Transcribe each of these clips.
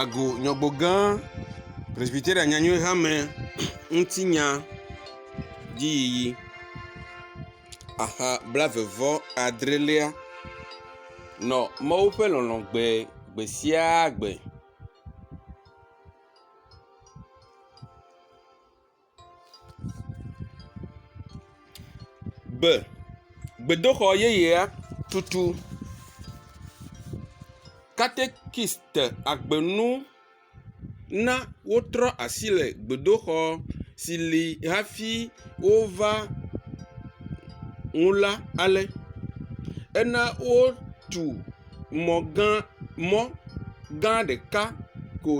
Agu nyɔgbo gã presbyteria nyanyuie hame ŋuti nya dzi yiyi. Aha blaeve vɔ adrelia nɔ Mawu ƒe lɔlɔ̃ gbe gbe sia gbe. Gbe, gbedoxɔ yeyea tutu katekiste agbenu na wotrɔ asi le gbedoxɔ si li hafi wova nu la ale. Ena wotu. mɔ gã mɔ gã ɖeka ko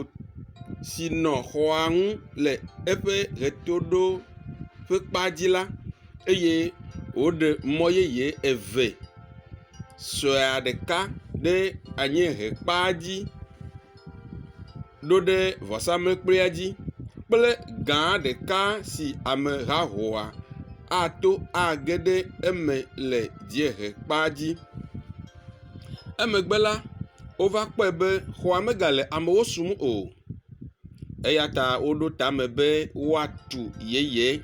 si nɔ xɔa ŋu le eƒe ʋetoɖoƒekpa dzi la eye woɖe mɔ yeye eve suea ɖeka ɖe anyiehekpa dzi. ɖo ɖe vɔsamlekpuia dzi kple gã ɖeka si amehahoa ato age ɖe eme le dziehe kpa dzi. Emegbe la, wova kpɔe be xɔa megale amewo sum o eya ta woɖo tame be woatu yeye.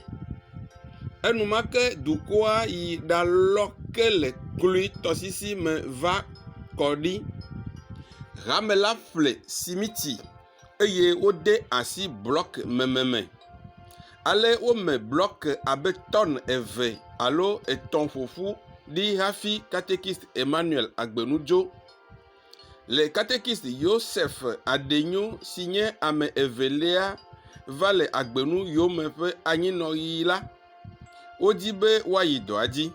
Enumake dukɔa yi ɖalɔ ke le kloe tɔsisi me va. kɔ ɖi. Hame la ƒle simiti eye wode asi blɔkimeme me. Ale wome blɔki abe tɔn eve alo etɔ̃ ƒo ƒu ɖi hafi katekist Emmanuel Agbenudzo. Le katekist Yosef Adenyo si nye ame evelia va le Agbenu yome ƒe anyinɔɣi la, Wodi be woayi dɔa dzi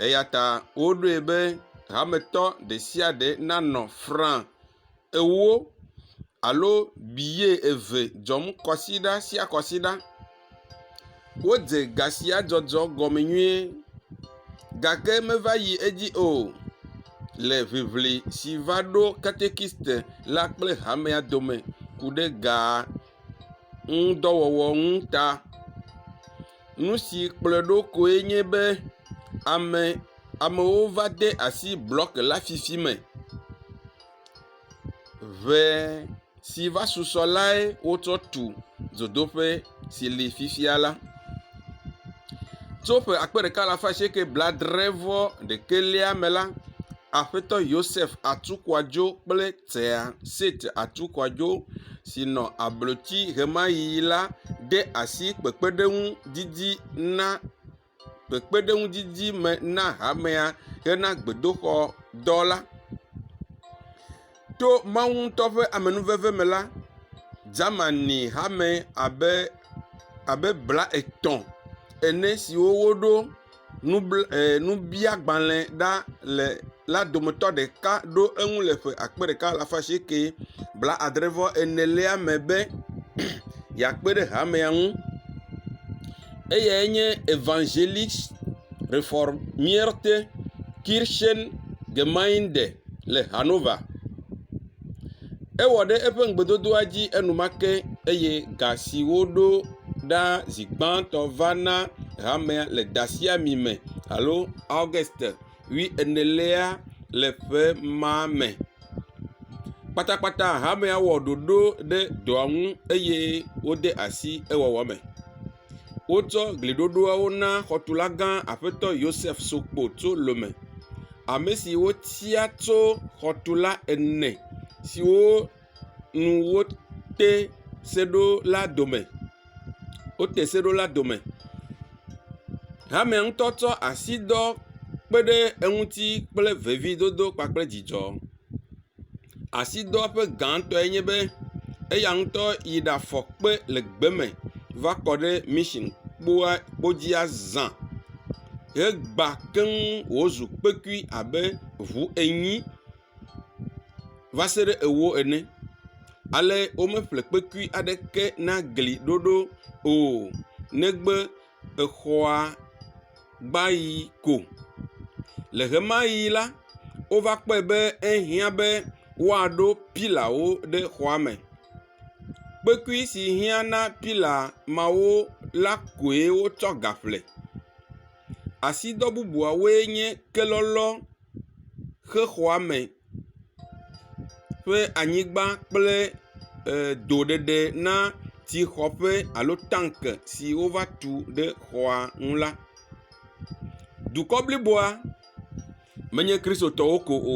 eya ta woɖoe be hametɔ ɖe sia ɖe nanɔ fra ewo alo biye eve dzɔm kɔsiɖa sia kɔsiɖa. Wodze ga sia dzɔdzɔ gɔme nyuie gake meva yi edzi o le ŋiŋli si va ɖo katekiste la kple hamea dome ku ɖe gaa. ŋudɔwɔwɔ ŋu ta. Nu si kplɔe ɖo koe nye be ame amewo va de asi blɔki la fifi me. Ŋe si va susɔ lae wotsɔ tu dzodoƒe si li fifia la. Tso ƒe akpe ɖeka alafa asieke bladre-vɔ-ɖekɛlia me la, Aƒetɔ Yosef Atukwadzo kple. Tea Sit Atukwadzo si nɔ ablotsi ɣemaɣi la de asi kpekpeɖeŋu didi na kpekpeɖeŋu didi me na hamea hena gbedoxɔ dɔ la. To Mawu ŋutɔ ƒe amenuveve me la, Germani hame abe abe blatɔ̃ ene siwo woɖo nubl e nubiagbalẽ ɖa le la dometɔ ɖeka ɖo eŋu le ƒe akpe ɖeka alafa asieke blaadre vɔ enelia me be yeakpe ɖe hamea ŋu. Eyae nye Evangelist Reformierte Kirchen Gemeinde le Hannover. Ewɔ ɖe eƒe ŋugbedodoa dzi enumake eye ga si woɖo ɖa zi gbãtɔ va na hamea le ɖasiami me alo August ƒe enelia le ƒe ma me. Kpatakpata hamea wɔ ɖoɖo ɖe dɔa ŋu eye wode asi ewɔwɔ me. Wotsɔ gliɖoɖoawo na xɔtula gã Aƒetɔ Yosef Sokpo tso Lome, ame si wotia tso xɔtula ene siwo nu wote se ɖo la dome, wote se ɖo la dome. Hamea ŋutɔ tsɔ asidɔ kpe ɖe eŋuti kple vevidodo kpakple dzidzɔ. Asidɔwɔƒe gãtɔe nye be eya ŋutɔ yi ɖe afɔ kpe le gbe me va kɔ ɖe mashini kpoa kpo dzi azã hegba keŋ wòzu kpekui abe ŋu enyi va se ɖe ewo ene. Ale womeƒle kpekui aɖeke na gli ɖoɖo o negbe. exɔa gbã yi ko. Le ʋe ma ʋi la, wova kpɔe be ehiã be woaɖo pilawo ɖe xɔa me. Kpekui si hiã na pila mawo la koe wotsɔ gaƒle. Asidɔ bubuawoe nye kelɔlɔ. xe xɔa me ƒe anyigba kple edo ɖeɖe na tsi xɔƒe alo tanki si wova tu ɖe xɔa nu la. Dukɔ bliboa menye Kristotɔwo ko o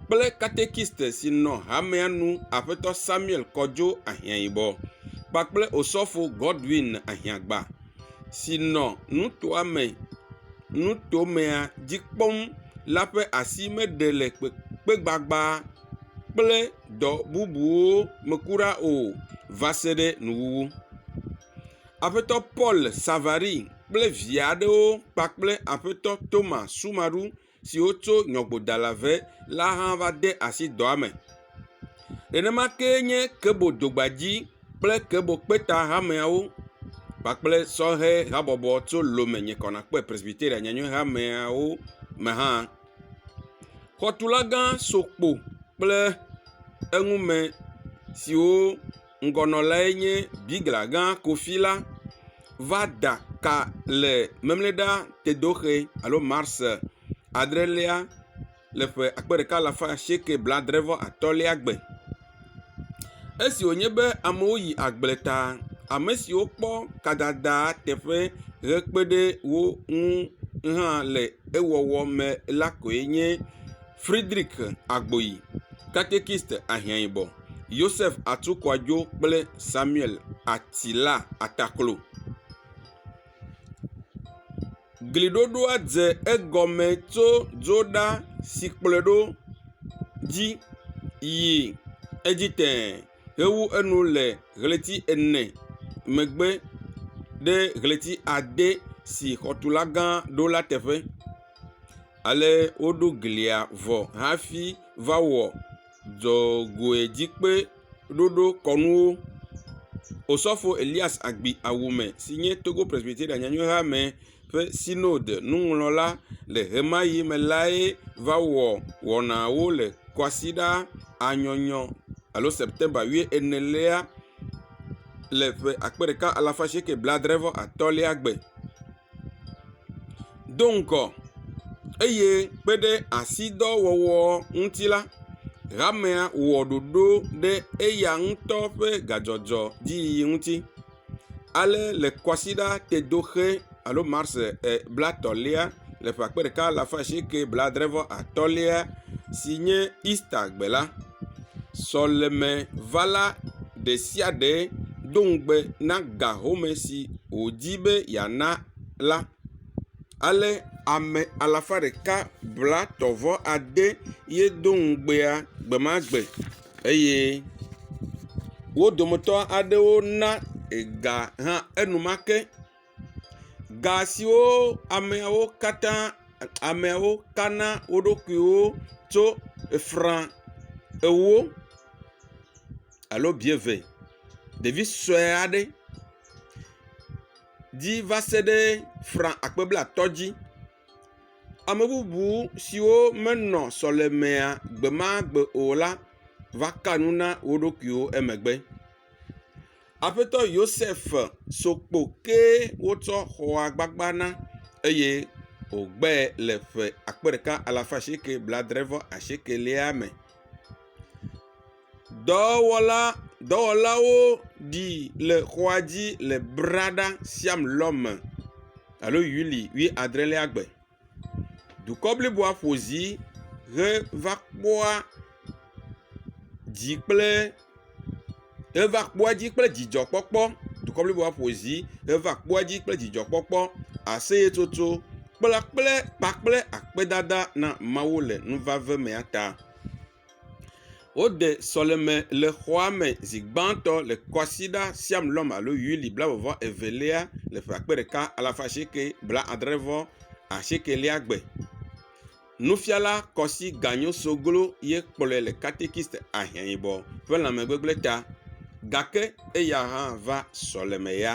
kple katekiste si nɔ hamea nu Aƒetɔ Samuel Kodzo Ahiãyibɔ kpakple Osɔfo Godwin Ahiãgba. si nɔ nutoa me nutomea dzi kpɔm la ƒe asi meɖe le kpekpegbagba kple dɔ bubuwo me kura o va se ɖe nuwuwu. Aƒetɔ Paul Savary kple via aɖewo kpakple aƒetɔ Thomas Sumaru. siwo tso nyɔƒodala ŋe la hã va de asi dɔa me. Nenema kee nye kebo dogbadzi kple kebo kpeta hameawo kpakple sɔhɛ habɔbɔ tso Lome nye kɔ nàkpɔe Presbyteria Nyanyuie Hameawo me hã. Xɔtulagã sɔ kpo kple eŋumesiwo. ŋgɔnɔlae nye bigla gã Kofi la va da ka le Memleda Tedoxe alo Mars adrelia le ƒe akpe ɖeka alafa asieke blaadre vɔ atɔ̃lia gbe. Esi wònye be amewo yi agble ta, ame siwo kpɔ kadada teƒe hekpe ɖe wo ŋu hã le ewɔwɔ me la koe nye. Fridrik Agboyi, katekist ahiãyibɔ, Yosef Atukwajo kple Samuel Atila Ataklo. Gliɖoɖoa dze egɔme tso dzoɖasikplɔɛɖo dzi yi edzi tẽe hewu enu le ɣleti ene megbe ɖe ɣleti ade si xɔtulagã ɖo la teƒe. Ale woɖo glia vɔ hafi va wɔ dzɔgoedzikpɔɖoɖokɔnuwo. Osɔfo Elias Agbi Awume si nye Togo Presbyterian Nyanyuihamea ƒe Synod nuŋlɔla le ɣemaɣi me lae va wɔ wɔnaawo le Kwasiɖa A nyɔnyɔ alo September wuienelia le ƒe akpe ɖeka alafa asieke blaadre-vɔ-atɔ̃lia gbe. Do ŋgɔ eye kpe ɖe asidɔwɔwɔ ŋuti la, hamea wɔ ɖoɖo ɖe eya ŋutɔ ƒe gadzɔdzɔ dzi yiyi ŋuti. Ale le Kwasiɖa Tedoxe alo Mars e bla tɔ̃lia le ƒe akpe ɖeka alafa asieke bladre-vɔ-atɔ̃lia si nye Easter gbe la, Sɔlemevala ɖe sia ɖe do ŋugbe na ga home si wòdi be yeana la. Ale ame alafa ɖeka blatɔ̃ vɔ ade ye do ŋugbea gbe ma gbe eye wo dometɔ aɖewo na ega hã enumake. ga siwo ameawo katã, ameawo kana wo ɖokuiwo tso efra ewo alo bieve, ɖevi sue aɖe dzi va se ɖe fra akpe blatɔ̃ dzi. Ame bubu siwo menɔ sɔlemea gbemagbe o la va ka nu na wo ɖokuiwo emegbe. Aƒetɔ Yosef so kpo ke wotsɔ xɔa gbagba na eye wògbɛ le ƒe akpe ɖeka alafa asieke blaadre vɔ asiekelia me. Dɔwɔla dɔwɔlawo ɖi le xɔa dzi le Brada Siam lɔ me alo Yuli wuiadrelia gbe. dukɔ bliboa ƒo zi heva kpɔa dzi kple heva kpɔa dzi kple dzidzɔkpɔkpɔ. Dukɔ bliboa ƒo zi heva kpɔa dzi kple dzidzɔkpɔkpɔ, aseyetsotso kpla kple kpakple akpedada na Mawu le nuvave mea ta. Woɖe sɔleme le xɔa me zi gbãtɔ le Kwasiɖa Siam Lɔm alo Yuli blaeve evelia le ƒe akpe ɖeka alafa asieke blaadre vɔ asiekelia gbe. Nufiala Kɔsi Ganyo Soglo ye kplɔe le katikist ahiãyibɔ ƒe lãmegbegblẽ ta gake eya hã va sɔleme ya.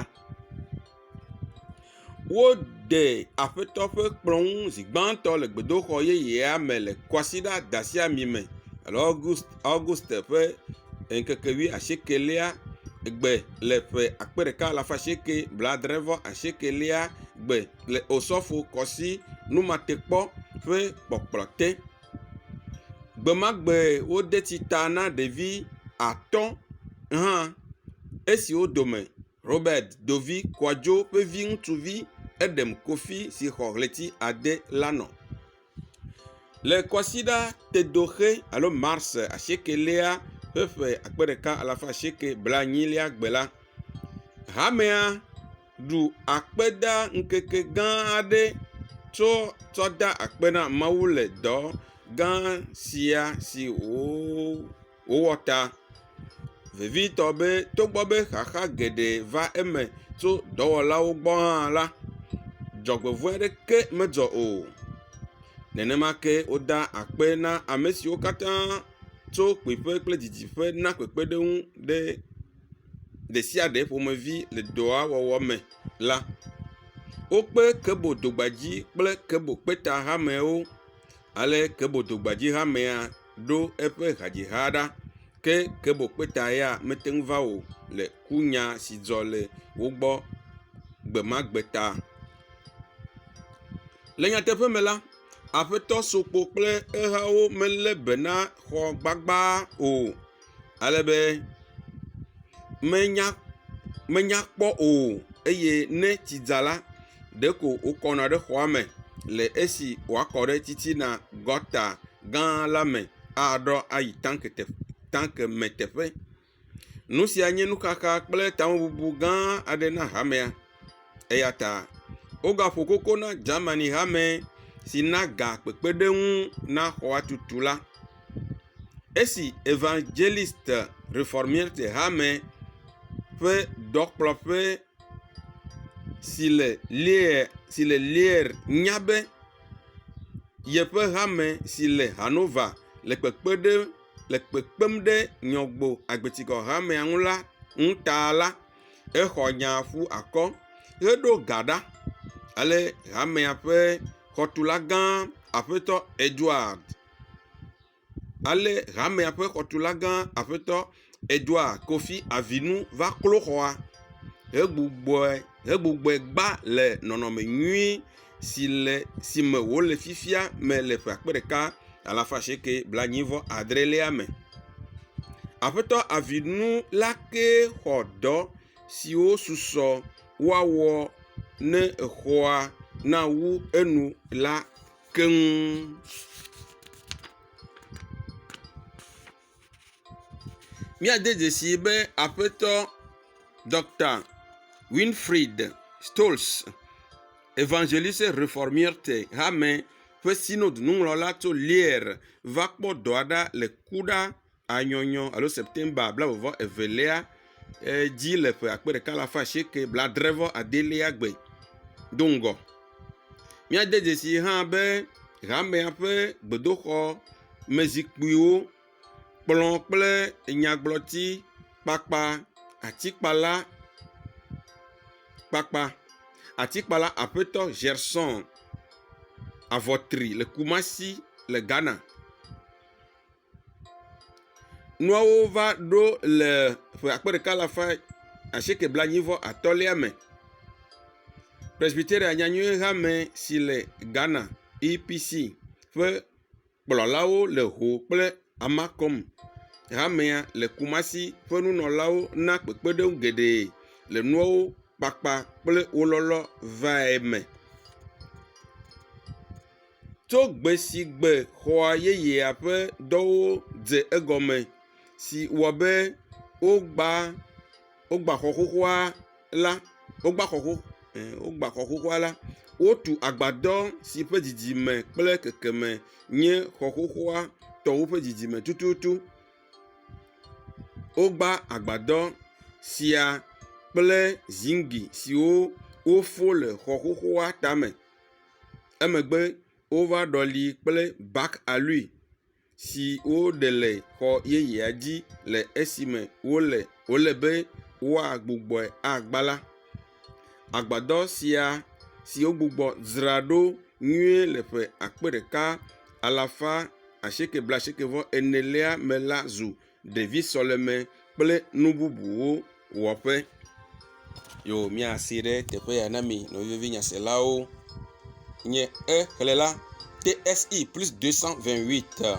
Wode aƒetɔ ƒe kplɔ ŋu zi gbãtɔ le gbedoxɔ yeyea me le Kwasiɖa Dasiãme me le August August ƒe ŋkeke wuiasiekɛlia gbe le ƒe akpe ɖeka alafa asieke blaadre-vɔ asiekelia gbe le Osɔfo Kwasi Numatekpɔ ƒe kpɔkplɔ te. Gbemagbe wode tsita na ɖevi atɔ̃ hã esiwo dome. Robert Dovi Kwajo ƒe vi ŋutsuvi Edem Kofi si xɔ ɣleti ade la nɔ. Le Kwasiɖa Tedoxe alo Mars asiekɛlia ƒe ƒe akpe ɖeka alafa asieke blaenyilia gbe la, hamea ɖu akpedaŋkeke gã aɖe tso tsɔ da akpe na Mawu le dɔ gã sia si wòwɔ. Wowɔ ta vevitɔ be togbɔ be xaxa geɖe va eme tso dɔwɔlawo gbɔ hã la, dzɔgbevɔ̃e aɖeke medzɔ o. Nenema ke woda akpe na ame siwo katã tso kpuiƒe kple didiƒe na kpekpeɖeŋu ɖe ɖe sia ɖe ƒomevi le dɔa wɔwɔ me la. Wokpe Kebo Dogbadzi kple Kebo Kpeta hamewo ale Kebo Dogbadzi hamea. ɖo eƒe hadzixa ɖa ke Kebo Kpeta ya mete ŋu va o le kunya si dzɔ le wo gbɔ gbe ma gbe ta. Le nyateƒe me la, Aƒetɔ Sokpo kple ehawo melé be na xɔ gbagbaa o. ale be menya menya kpɔ o eye ne tsi dza la ɖeko wokɔna ɖe xɔa me le esi woakɔ ɖe titina gɔta gã la me aɖɔ ayi tanki te tanki me teƒe. Nu sia nye nuxaxa kple tamebubu gã aɖe na hamea eya ta wogaƒo koko na Germani hame si na ga kpekpeɖeŋu na xɔatutu la. Esi Evangeliste Reformierte Hame ƒe Dɔkplɔƒe si le Lierre, si le Lierre nya be yeƒe hame si le Hannover le kpekpe ɖe, le kpekpem ɖe Nyrɔgbo Agbetikɔ Hamea ŋu la ŋu ta la, exɔ nyaa ƒu akɔ heɖo ga ɖa. Ale hamea ƒe xɔtulagã, Aƒetɔ Edward ale hamea ƒe xɔtula gã aƒetɔ Edouard Kofi Avinu va klo xɔa hegbugbɔe hegbugbɔe gba le nɔnɔme nyui si le si me wòle fifia me le ƒe akpe ɖeka alafa asieke blaenyi vɔ adrelia me. Aƒetɔ Avinu la kee xɔ dɔ siwo susɔ woawɔ ne exɔa nawu enu la. keŋ. Míade dzesii be aƒetɔ Dɔkta Winfried Stolz, Evangeliste Reformierte Hame ƒe Synod nuŋlɔla tso Lier va kpɔ dɔa ɖa le kuɖa. anyɔnyɔ alo September blaeve vɔ evelia dzi le ƒe akpe ɖeka alafa asieke blaadre vɔ adelia gbe do ŋgɔ. Míade dzesii hã be hamea ƒe gbedoxɔ me zikpuiwo, kplɔ kple nyagblɔti kpakpa, atikpala kpakpa, atikpala aƒetɔ Ʒersɔn Avɔtri le Kumasi le Ghana. nuawo va ɖo le ƒe akpe ɖeka alafa asieke blaenyi vɔ atɔ̃lia me. Presbyteria Nyanyui hame si le Ghana EPC ƒe kplɔlawo le ho kple Amacom hamea le Kumasi ƒe nunɔlawo na kpekpeɖeŋu geɖe le nuawo kpakpa kple wo lɔlɔ vae me. tso gbe si gbe xɔa yeyea ƒe dɔwo dze egɔme si wɔ be wogba wogba xɔ xoxoa la wogba xɔ xoxo e wogba xɔ xoxoa la. Wotu agbadɔ si ƒe didime kple kekeme nye xɔ xoxoa tɔ woƒe didime tututu. Wogba agbadɔ sia kple ziŋgli siwo wofɔ le xɔ xoxoa tame. Emegbe wova ɖɔlii kple bak aloe si woɖe le xɔ yeyea dzi le esime wole wòle be woagbugbɔe agbã la. Agbadɔ sia si wogbugbɔ dzra ɖo nyuie le ƒe akpe ɖeka alafa asieke blaasieke vɔ enelia me la zu. ɖevi sɔleme kple nu bubuwo wɔƒe. Yo míasee ɖe teƒe ya na mi nɔvivi nyaselawo nye xexlẽ la TSI plus 228.